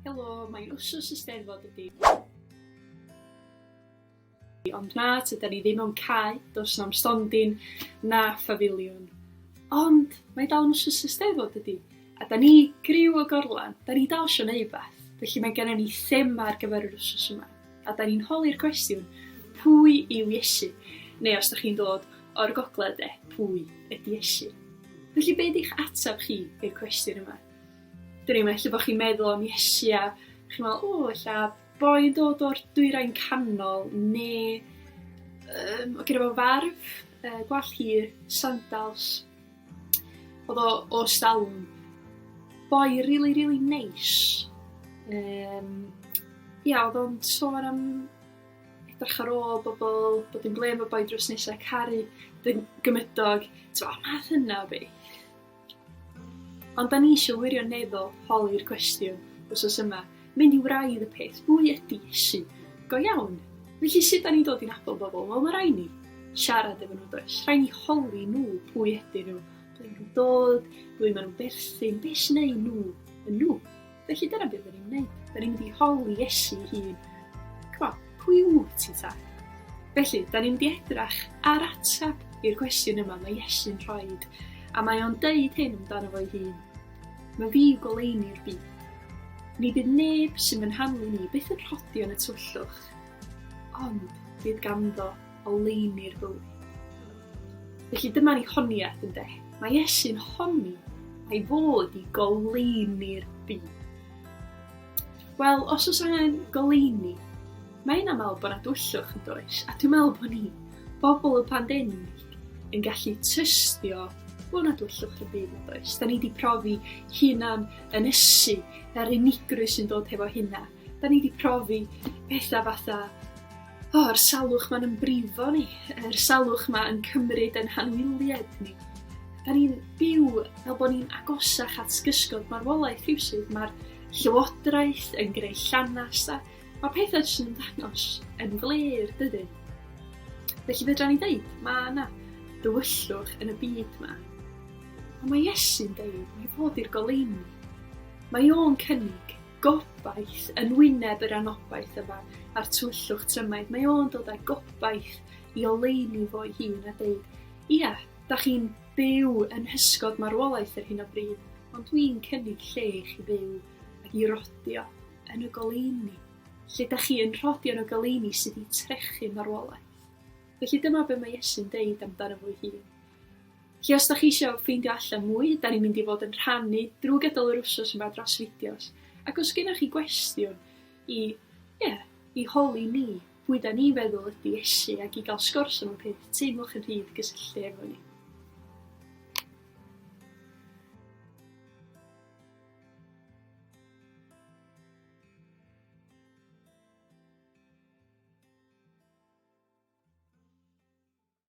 Helo, mae'n wsos y steddfod ydi. Ond na, tyda ni ddim o'n cae, dos na'm stondin, na ffafiliwn. Ond mae dal yn wsos y steddfod ydi. A da ni griw o gorlan, da ni dal sio neud beth. Felly mae gennym ni thema ar gyfer yr wsos yma. A da ni'n holi'r cwestiwn, pwy yw Iesu? Neu os da chi'n dod o'r gogledd de, pwy ydi Iesu? Felly be' 'di'ch ateb chi i'r cwestiwn yma? 'Dyn ni'm, ella bo' chi'n meddwl am Iesu a chi'n me'wl o ella boi yn dod o'r dwyrain canol ne' yym o' gynno fo farf yy gwallt hir, sandals. Odd o o Stalwn. Boi rili rili neis. Yym ia odd o'n sôn am edrych ar ôl bobol, bod yn glên efo boi drws nesa, caru dy gymydog t'mo' math yna o beth. Ond da ni eisiau wirioneddol holi'r cwestiwn wsos yma, mynd i wraidd y peth, pwy ydy Iesu? Go iawn! Felly sut da ni'n dod i'n abod bobl? Wel, mae rhaid ni siarad efo nhw, does? Rhaid ni holi nhw pwy ydyn nhw, ble maen nhw'n dod, ble maen nhw'n berthyn, beth sy'n ei nhw yn nhw. Felly dyna beth ni'n gwneud. Da ni'n mynd i holi Iesu hun. Cwa, pwy wyt ti ta? Felly, da ni'n mynd i edrach ar ateb i'r cwestiwn yma mae Iesu'n rhoi. A mae o'n deud hyn amdano fo'i hun. Mae fi yw goleini'r byd. Ni bydd neb sy'n fy nhanlu ni byth yn rhodi yn y twllwch. Ond, bydd ganddo oleuni'r bywyd. Felly dyma ni honiaeth yn de. Mae Iesu'n honni ei fod i goleuni'r byd. Wel, os oes angen goleuni, mae yna meddwl bod yna dwyllwch yn does, a dwi'n meddwl bod ni, bobl y pandemig, yn gallu tystio bod yna dwyllwch yn byd yn does. Da ni wedi profi hunan ynysu, yr unigrwy sy'n dod hefo hunan. Da ni 'di profi petha fatha o, yr salwch ma'n yn brifo ni, yr salwch ma yn cymryd yn hanwylied ni. Da ni'n byw fel bod ni'n agosach at gysgod marwolaeth rhywsyd, mae'r llywodraeth yn greu llanast a mae pethau jyst yn dangos yn glir, dydy? Felly fedra ni ddeud, mae yna dywyllwch yn y byd yma. Ond mae Iesu'n deud, mae bod i'r goleini. Mae o'n cynnig gobaith yn wyneb yr anobaith yma a'r twyllwch trymaidd. Mae o'n dod â gobaith i oleuni fo'i hun a dweud, ia, da chi'n byw yn hysgod marwolaeth ar hyn o bryd, ond dwi'n cynnig lle i chi fyw ac i rodio yn y goleuni, lle da chi yn rhodio yn y goleuni sydd wedi trechu marwolaeth. Felly dyma be mae Iesu'n deud amdano fo'i hun. Felly os dach chi isio ffeindio allan mwy, da ni'n mynd i fod yn rhannu drwy gydol yr wsos yma dros fideos. Ac os gennych chi gwestiwn i, ie, i holi ni, pwy da ni'n feddwl ydy Iesu ac i gael sgwrs am y peth, teimlwch yn rhydd gysylltu efo ni.